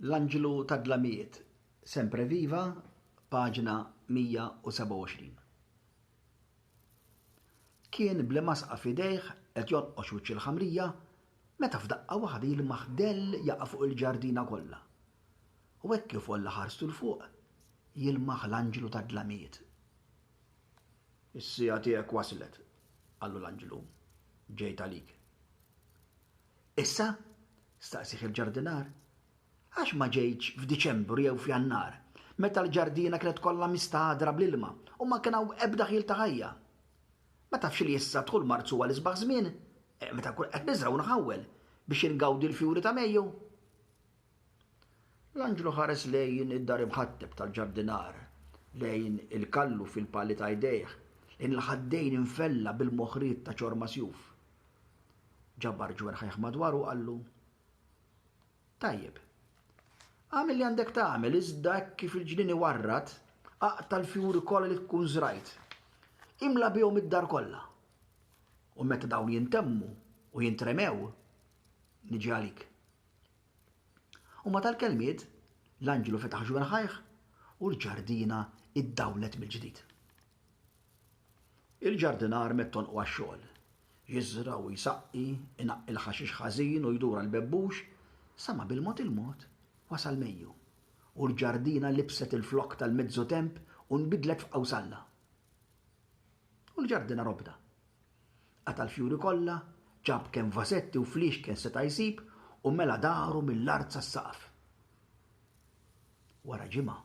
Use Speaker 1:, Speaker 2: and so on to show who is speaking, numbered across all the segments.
Speaker 1: L-Anġlu tad-Dlamijiet, Sempre Viva, paġna 127. Kien bl-imgħasqa f'idejh qed jonqox wiċċ il-ħamrija meta f'daqqa waħda jilmaħ dell jaqa' fuq il-ġardina kollha. U hekk kif għolla ħarstu 'l fuq, jilmaħ l-Anġlu tad-Dlamijiet. Is-siegħa tiegħek waslet, qallu l-Anġlu. Ġejt għalik. Issa, Staqsieh il-ġardinar, Għax ma ġejtx f'Diċembru jew f'Jannar, meta l-ġardina kienet kollha mistagħdra bl-ilma u ma kien hawn ebda ħjiel ta' ħajja? Ma tafx li issa dħul Marzu huwa l-isbaħ żmien, meta nkun qed niżra' u nħawwel, biex ingawdi l-fjuri ta' Mejju? L-anġlu ħares lejn id-dar imħatteb tal-ġardinar, lejn il-kallu fil-pali ta' jdejh, lejn il-ħaddejn imfella bil-moħriet ta' ċorma sjuf. Ġabar ġwerħajh madwaru u qallu, Tajjeb, agħmel li għandek tagħmel iżda hekk kif il-ġnien iwarrad, aqta' l-fjuri kollha li tkun żrajt. Imla bihom id-dar kollha. U meta dawn jintemmu u jintremew, niġi għalik. U ma tal-kelmiet, l-anġlu fetaħ ġwerħajh u l-ġardina iddawlet mill-ġdid. Il-ġardinar mittonqu għax-xogħol. Jiżra' u jsaqqi, inaqqi l-ħaxix ħażin u jdur għall-bebbux, sa ma bil-mod il-mod wasal Mejju, u l-ġardina libset il-flokk tal-mezzu temp u nbidlet f'qawsalla. U l-ġardinar obda. Qata' l-fjuri kollha, ġab kemm vażetti u fliexken seta' jsib u mela daru mill-art sas-saqaf. Wara ġimgħa,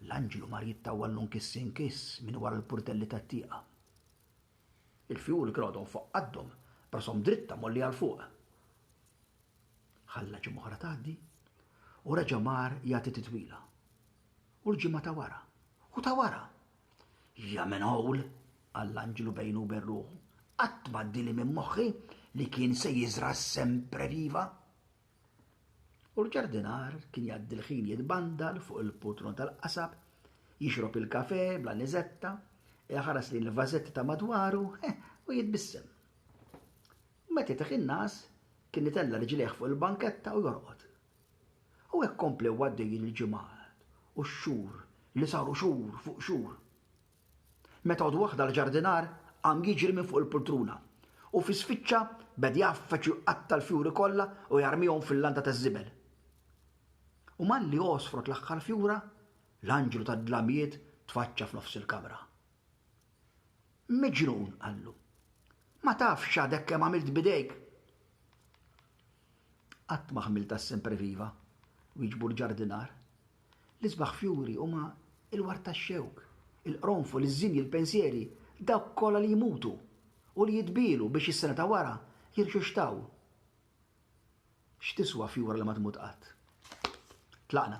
Speaker 1: L-anġlu mar jittawwallu nkiss inkiss minn wara l-purtelli tat-tieqa. Il-fjuri kienu għadhom fuq qaddhom, b'rashom dritta mgħollija 'l fuq. Ħalla ġimgħa oħra tgħaddi u reġa' mar jagħti titwila. U l-ġimgħa ta' wara. U ta' wara. Ja minn hawl! qal l-anġlu bejnu u bejn ruħu. Qatt m'għaddieli minn moħħi li kien se jiżra' sempreviva! U l-ġardinar kien jgħaddi l-ħin jitbandal fuq il-putron tal-qasab, jixrob il-kafè bla niżetta, iħares lejn il-vażetti ta' madwaru u jitbissem. U meta jteħħi n-nas, kien itella' riġlejh fuq il-banketta u jorqod. U hekk komplew għaddejjin il-ġimgħat u x-xhur li saru xhur fuq xhur. Meta għodd waħda l-ġardinar qam jiġri minn fuq il-pultruna u fi sfiċċa beda jgħaffeġ u jqatta' l-fjuri kollha u jarmihom fil-landa taż-żibel. U malli għosfrot l-aħħar fjura, l-anġlu tad-dlamjiet tfaċċa f'nofs il-kamra. Miġnun, qallu. Ma tafx x'għadek kemm għamilt b'idejk? Qatt ma ħmilt għas-sempreviva, wieġbu l-ġardinar. L-isbaħ fjuri huma l-ward tax-xewk, il-qronfol, iż-żimji, l-pensieri, dawk kollha li jmutu u li jitbielu biex is-sena ta' wara jirxuxtaw. X'tiswa fjura li ma tmut qatt? Tlaqna.